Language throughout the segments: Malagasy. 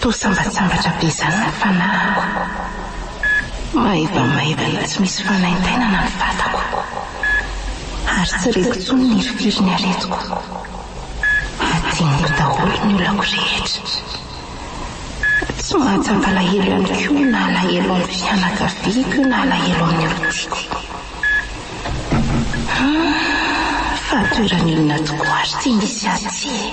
Toa sambatsambatra be izany ny fanahiko. Maivamaivana tsy misy fanaintainana ny vatako, ary tsy reko intsony ny hirifirin'ny aretiko. Adinoko daholo ny olako rehetra. Tsy mahatsam-palahelo ihany koa na alahelo amin'ny fianakaviako io na alahelo amin'ny olon-tiako. Fa toeran'inona tokoa ary ity misy azy ity e?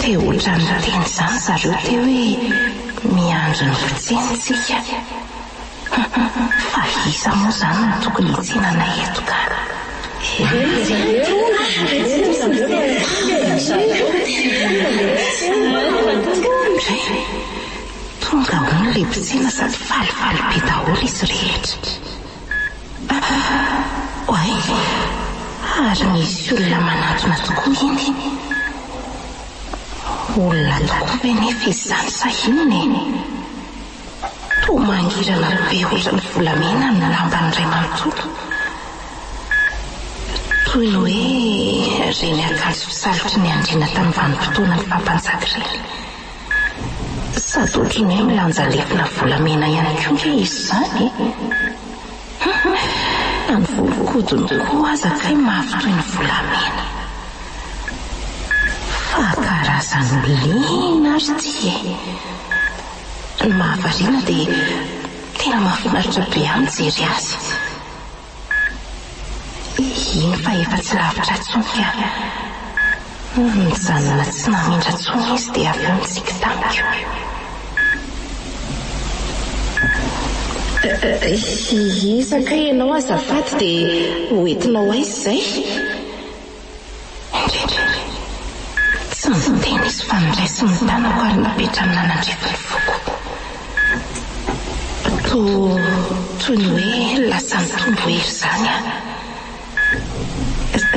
Te ohatran'ny niteny izany zareo teo hoe miandry ny fotsiny tsika. Fa iza moa izany no tokony hitsinana eto ka? Tonga hono ilay mpitsena sady falifaly be daholo izy rehetra. Oay, ary misy olona manantona tokoa iny. Olona tokoa ve nefa izany sa inona e? Toa mangirana be ohatran'ny volamena ny lambany iray manontolo. Toy ny hoe ireny akanjo fisalitry ny andriana tamin'ny vanim-potoanan'ny faha-mpanjaka ireny. Sady ohatran'ny hoe milanja aretina volamena ihany koa nge izy izany e! Humm! Na ny volon-kodiny koa aza kay mafy toy ny volamena. Fa karazan'olona inona ary ity e! Ny mahavariana dia tena mahafinaritra be ahy mijery azy. Eny fa efa tsy lavitra intsony an! Nijanona tsy namindra intsony izy dia avy eo nitsiky tamiko. Iza kay ianao azafady dia hoentinao aiza izay? Ankehitriny, tsy ny fiteny izy fa ny ray sy ny tanako ary ny petra nanandrify ny foko. Toa, toy ny hoe lasa nitombo hery izany aho.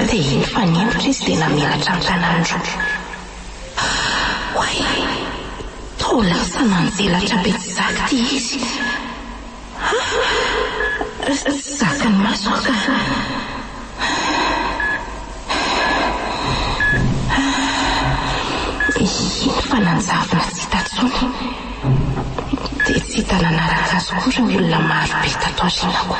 Dia iny nifanempotra izy dia namelatra ny tanany roa. Oay! Toa lasa nanjelatra be tsy zakity izy. Zakan'i Masoa ka. Iny fa nanjavona tsy hita intsony. Dia tsy hita nanaraka azy koa ireo olona maro be tato aoriana koa.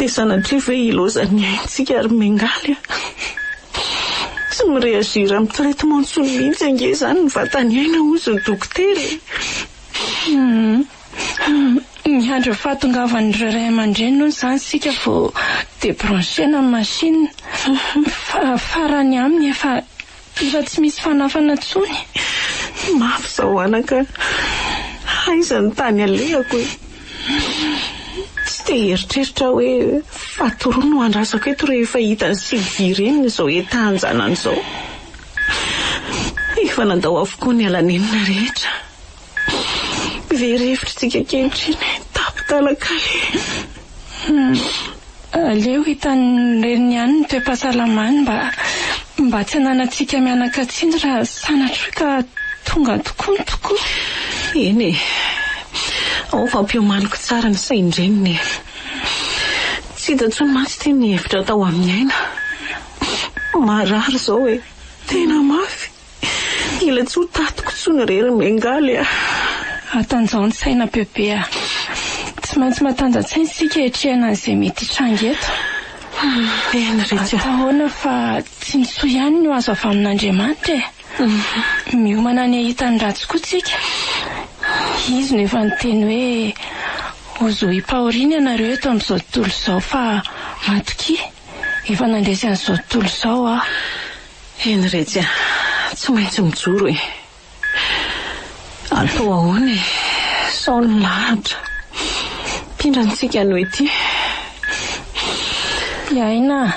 Dia sanatria ve hilozan'ny aintsika ary miangaly a! Tsy mi-réagir amin'ny traitement intsony mihitsy ange izany ny vatan'i Aina hozy ny dokotera e! Humm! Miandry ny fahatongavan'ireo ray aman-dreny hono izany isika vao débrancher-na ny machine. Fa farany aminy efa Efa tsy misy fanafana tsony. Mafy zao anaka a. Aiza ny tany alehako e. Tsy te hieritreritra aho hoe fatorony no andrasako eto rehefa hita ny sivy vy reniny izao entahan-janany izao. Efa nandao avokoa ny ala nenina rehetra. Very hevitra tsika ankehitriny hoe tapin-talaka le. Aleo hitan'ny reniny ihany ny toe-pahasalamany mba mba tsy ananantsika mianakatsiny raha sanatria ka tonga tokoa ny tokoa. Eny e. Ao fa ampiomaniko tsara ny sain-dreniny e. Tsy hita intsony mantsy ity ny hevitra atao amin'ny aina. Marary izao e. Tena mafy. Mila tsy ho tatiko tsony re ry Bengaly a! Matanjaon-tsaina bebe a! Tsy maintsy matanjan-tsaina isika hiatrehana an'izay mety hitranga eto. Tena re tsy a! Atao ahoana fa tsy ny soa ihany no azo avy amin'Andriamanitra e! Miomana ny hahita ny ratsy koa tsika. Izy no efa niteny hoe, Hozohim-pahoriana ianareo eto amin'izao tontolo izao fa matokia, efa nandresy an'izao tontolo izao aho. Eny retsy a! Tsy maintsy mijoro e! Atao ahoana e! Sao ny lahatra mpindra antsika anio ity. Iaina a!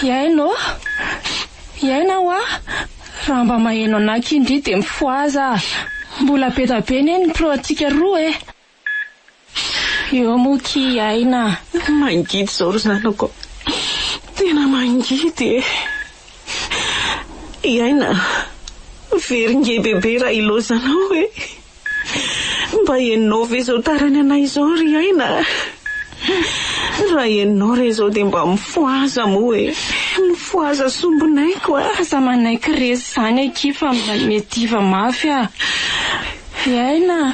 Iaina ô! Iaina hoa! Raha mba maheno anà kin-dry dia mifohaza a! Mbola be da be anie ny pro antsika roa e! Eo moa ty i Aina a! Tena mangidy izao ry zanako a! Tena mangidy e! I Aina a! Very nge bebe raha ilaozanao e! Mba henonao ve izao tarany anay izao ry Aina a! Raha henonao re izao dia mba mifohaza moa e! Mifohaza sombinaiko a! Aza manaiky resy izany akia fa mba miadiva mafy a! I Aina a!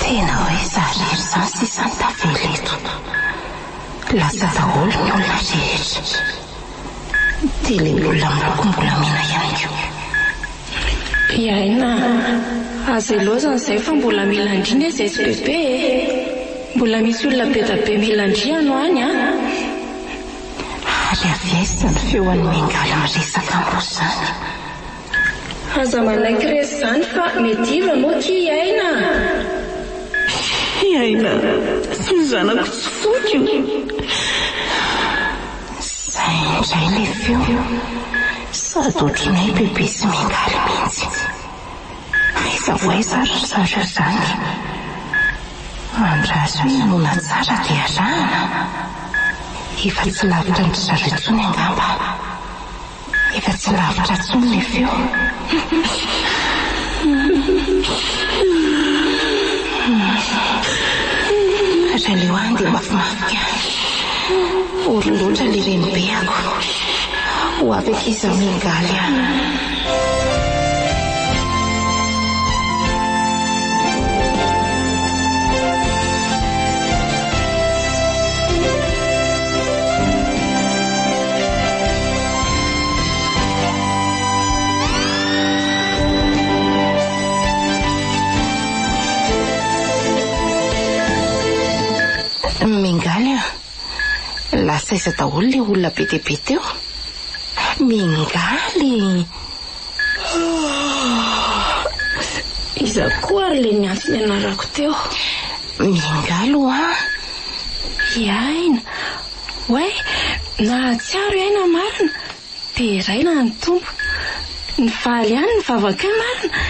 Tena hoe za irery zany sisa no tavela eto. Lasa daholo ny olona rehetra. Ny tele-bola miloko mbola mena ihany koa. Hiaina azy aloha zany izay fa mbola mila ndry ny SSPP e. Mbola misy olona be da be mila ndry ano any an. Ary avy aiza ny feo an'i Bengal miresaka amboa zany. Aza manaiky resy zany fa mety iva moa ty i Aina a! I Aina sy ny zanako tsy foiko! Zay indray le feo, sady otriny hoe bebe sy miangaly mintsy. Aiza ho aiza ary ry zareo zany? Mandrazy hoe inoana tsara de arahana? Efa tsy lavitra an-dry zareo tsony angamba. Efa tsy lavitra intsony ny feo. Raleo any dia mafimafy any. Ory loatra ilay renibeako. Ho avy aty izaho miangaly ahy. Miangaly an! Lasa aiza daholo ilay olona be dia be teo? Miangaly! Iza koa ary ilay niantso ny anarako teo? Miangaly hoa! Hiaina. Oay, nahatsiaro hiaina marina. Deraina ny Tompo. Nivaly ihany ny vavakay marina.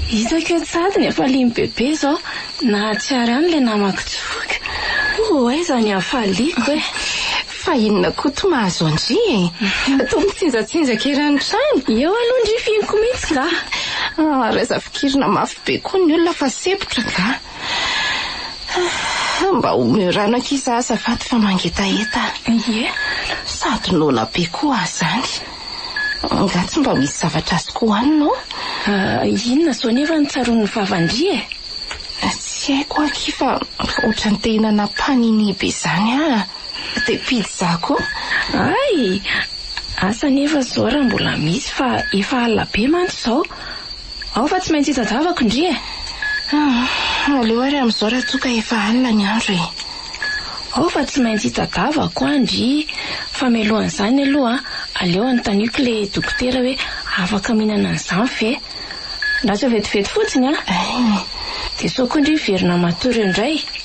Hitako eo tsahady ny hafalian'i Bebe izao. Nahatsiaro ihany ilay namako Joky. Ho aiza ny hafaliako e! Fa inona koa toa mahazo an-dry e! Toa mitsinjatsinjaka ery ny trano. Eo aloha ndry fihiniko mihitsy nga. Raha zafikirina mafy be koa ny olona fa sempotra nga. Mba omeo rano ankiza azafady fa mangetaheta. Ie, sady noana be koa aho izany. Angaha tsy mba misy zavatra azoko hohanina ao? Ah, inona izao anie va no tsaroan'ny vava-ndry e? Tsy haiko akia fa ohatran'ny te hinana panini be izany aho. Dia pizza koa. Ay! Asa anefa izao raha mbola misy fa efa alina be mantsy izao. Ao fa tsy maintsy hitadiavako ndry e! Ah, aleo ary amin'izao raha toa ka efa alina ny andro e! Ao fa tsy maintsy hitadiavako aho ndry! Fa mialohan'izany aloha aleo anontaniako ilay dokotera hoe afaka mihinana an'izany ve? Raha tsy ho vetivety fotsiny an! Dia sao koa ndry hiverina matory eo indray!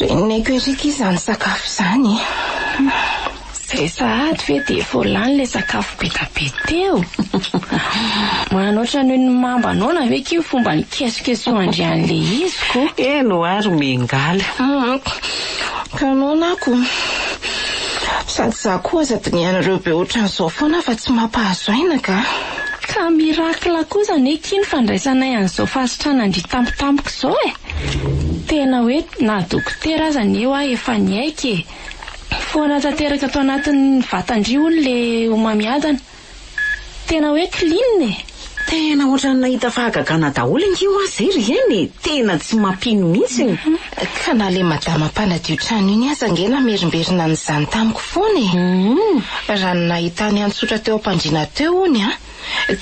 Reneko ery ky izany sakafo izany Izay sahady ve dia vao lany ilay sakafo be da be teo? Manana ohatran'ny ny mamba noana ve ky ny fomba nikesokesohan-dry an'ilay izy ko? Eny ho aho ry Miangaly. Ka noana aho ko. Sady izaho koa aza dinihanareo be ohatran'izao foana fa tsy mampahazo aina ka. Ka miracle koa izany hoe kin fandraisanay an'izao fahasitranandry tampotampoka izao e! Tena hoe na dokotera aza anie hoa efa niaiky e! Foana tanteraka ato anatin'ny vatandry hono ilay homamiadana. Tena hoe clean e! Tena ohatran'ny nahita fahagagana daholo ange hoa zay ry Aina e! Tena tsy mampino mihitsy ny. Ka na le madama mpanadio trano iny aza ange namerimberina an'izany tamiko foana e! Raha ny nahitany an-tsotra teo am-pandriana teo hono an!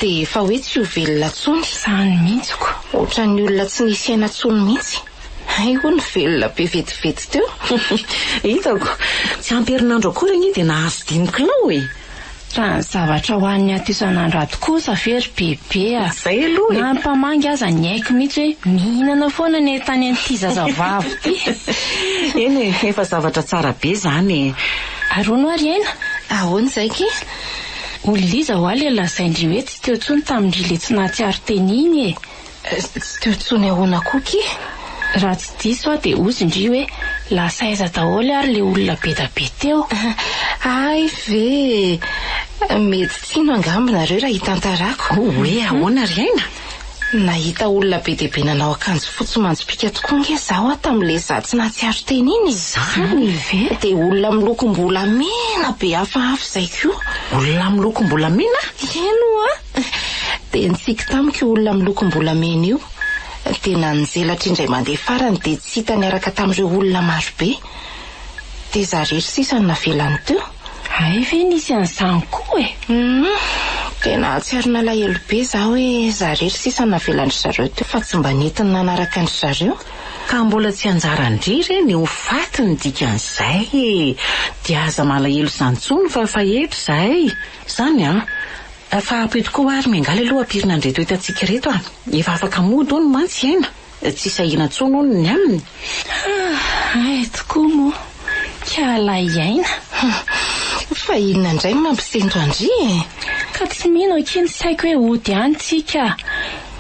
Dia efa hoe tsy ho velona tsony. Izany mihitsy ko! Otran'ny olona tsy nisy aina tsony mihitsy. Hay hono velona be vetivety teo. Hitako! Tsy ampy herinandro akory anie dia nahazo dimy kilao e! Raha ny zavatra hohaniny aty isan'andro aty kosa ve ry Bebe a! Na ny mpamangy aza niaiky mihitsy hoe mihinana foana ny entany an'ity zazavavy ity. Eny e, efa zavatra tsara be izany e! Ary hono ary aina, ahoana izay ki? Olona iza hoa ilay lazain-dry hoe tsy teo intsony tamin-dry ilay tsy nahatsiaro teny iny e! Tsy teo tsony ahoana koa ki? Raha tsy diso aho dia ozy ndry hoe lasa aiza daholo ary le olona be da be teo? Hay ve e! Mety tsy hino angamba nareo raha hitantarako. Ho hoe ahoana ry aina? Nahita olona be dia be nanao akanjo fotsy manjopiaka tokoa nge zaho a tamin'le za tsy nahatsiaro teny iny e! Zany ve? Dia olona amin'ny lokom-bolamena be hafahafa izay koa. Olona amin'ny lokom-bolamena? Eny oa! Dia nitsiky tamiko io olona milokom-bolamena io, dia nanjelatra indray mandeha farany dia tsy hita niaraka tamin'ireo olona marobe. Dia za irery sisa no navelany teo. Hay ve nisy an'izany koa e! Humm. Dia nahatsiaro nalahelo be za hoe za irery sisa no navelan-dry zareo teo fa tsy mba nentiny nanaraka an-dry zareo. Ka mbola tsy anjaran-dry re ny ho faty ny dikan'izay e! Dia aza malahelo izany intsony fa efa eto izahay. Izany an! Fa ampio tokoa ho'a ry Miangaly aloha hampirina an'ireto hitantsika ireto a! Efa afaka mody hono mantsy i Aina, tsy sahina intsony hono ny aminy. Haa ay tokoa moa hiala i Aina hum! Fa inona indray no mampisento an-dry e? Ka tsy mino akia ny saiko hoe hody any tsika a!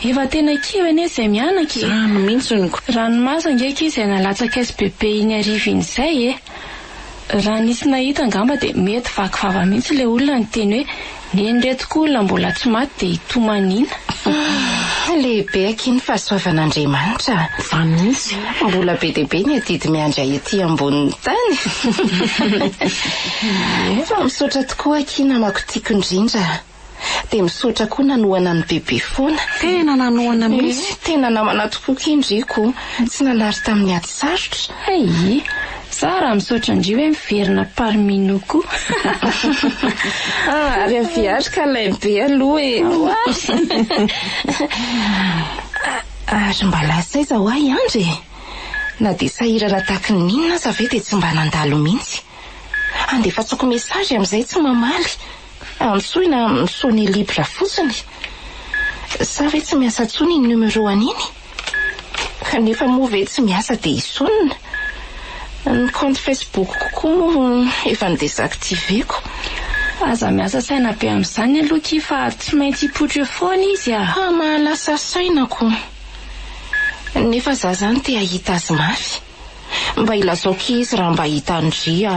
Efa tena kivy anie izay mianaka e! Izany mihitsy ny. Ranomaso ange akia izay nalatsaka SBB iny hariva iny izay e! Raha nisy nahita angamba dia mety vaky vava mihitsy ilay olona niteny hoe neny reto koa olona mbola tsy maty dia hitomaniana. Hum, lehibe akia ny fahasoavan'Andriamanitra a! Za mihitsy mbola be dia be ny adidy miandry ahy ety ambonin'ny tany. Fa misaotra tokoa akia namako tiako indrindra. Dia misaotra koa nanohana an'i Bebe foana. Tena nanohana mihitsy. Ee, tena namana tokoa kendriko. Tsy nanary tamin'ny ady sarotra. Aii. Za raha misaotra an-dry hoe miverina parmi nous koa. Ah, ary avy ary ka ilay be aloha e. Oay. Ary mba lasa aiza hoa i Andry e? Na dia sahirana tahaka ny inona aza ve dia tsy mba nandalo mihitsy. Andefasako message amin'izay tsy mamaly. Antsoina amin'ny Sony Libre fotsiny? Sa ve tsy miasa intsony iny numéro an'iny? Kanefa moa ve tsy miasa dia hisonona? Ny compte Facebook-ko koa moa efa ni-desactiver-ko. Aza miasa saina be amin'izany aloha ki fa tsy maintsy hipoitra eo foana izy a! Fa mahalasa saina ko! Nefa za zany te hahita azy mafy! Mba ilazao ki izy raha mba hita an-dry a!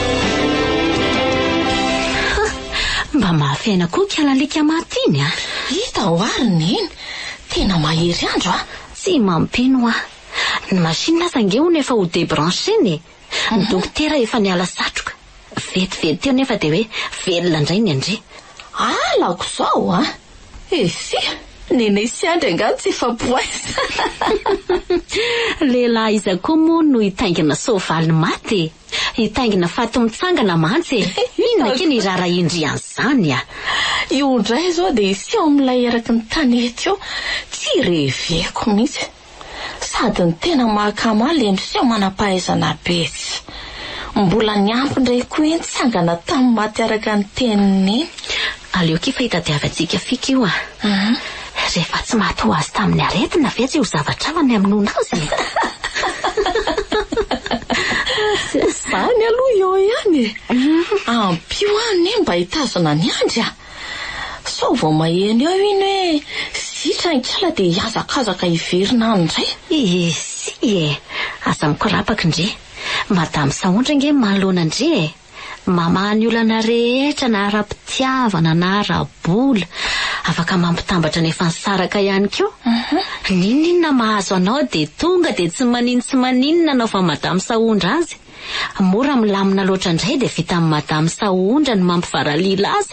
Mba mafy aina koa ikala alika maty iny a! Hita ao ary ny neny! Tena mahery andro a! Tsy mampino aho. Ny machine aza ange hono efa ho debrancher-na e! Ny dokotera efa niala satroka. Vetivety teo nefa dia hoe velona indray ny an-dry. Alako izao a! Eh fia! Nenay sy Andry angaha no tsy hifampihaiza. Lehilahy iza koa moa no hitaingina soavaly maty e! Hitaingina faty mitsangana mantsy e! Inona ake ny raharaha indry an'izany a! Io indray izao dia hiseho amin'ilay eraky ny tanety io, tsy reveko mihitsy. Sady ny tena mahakama ilay miseho manam-pahaizana be tsy. Mbola niampy indray koa iny tsangana tamin'ny maty araka ny teniny iny. Aleo kifa hitadiavantsika fika io a! Rehefa tsy maty ho azy tamin'ny aretina ve tsy ho zavatra hafa ny hamonoana azy e? Izany aloha eo ihany e. Ampio aho anie mba hitazona an'i Andry a. Sao vao maheno eo iny hoe zitra ny kala dia hihazakazaka hiverina any indray. Isia e! Aza mikorapaka ndry. Madame Saondry ange mahalona ndry e! Mamaha ny olana rehetra na ara-pitiavana na ara-bola. Afaka mampitambatra ny efa nisaraka ihany koa. N'inon'inona mahazo anao dia tonga dia tsy manin tsy maninona anao fa Mada misahondra azy. Mora milamina loatra indray dia vitan'i Mada misahondra ny mampivaralila azy.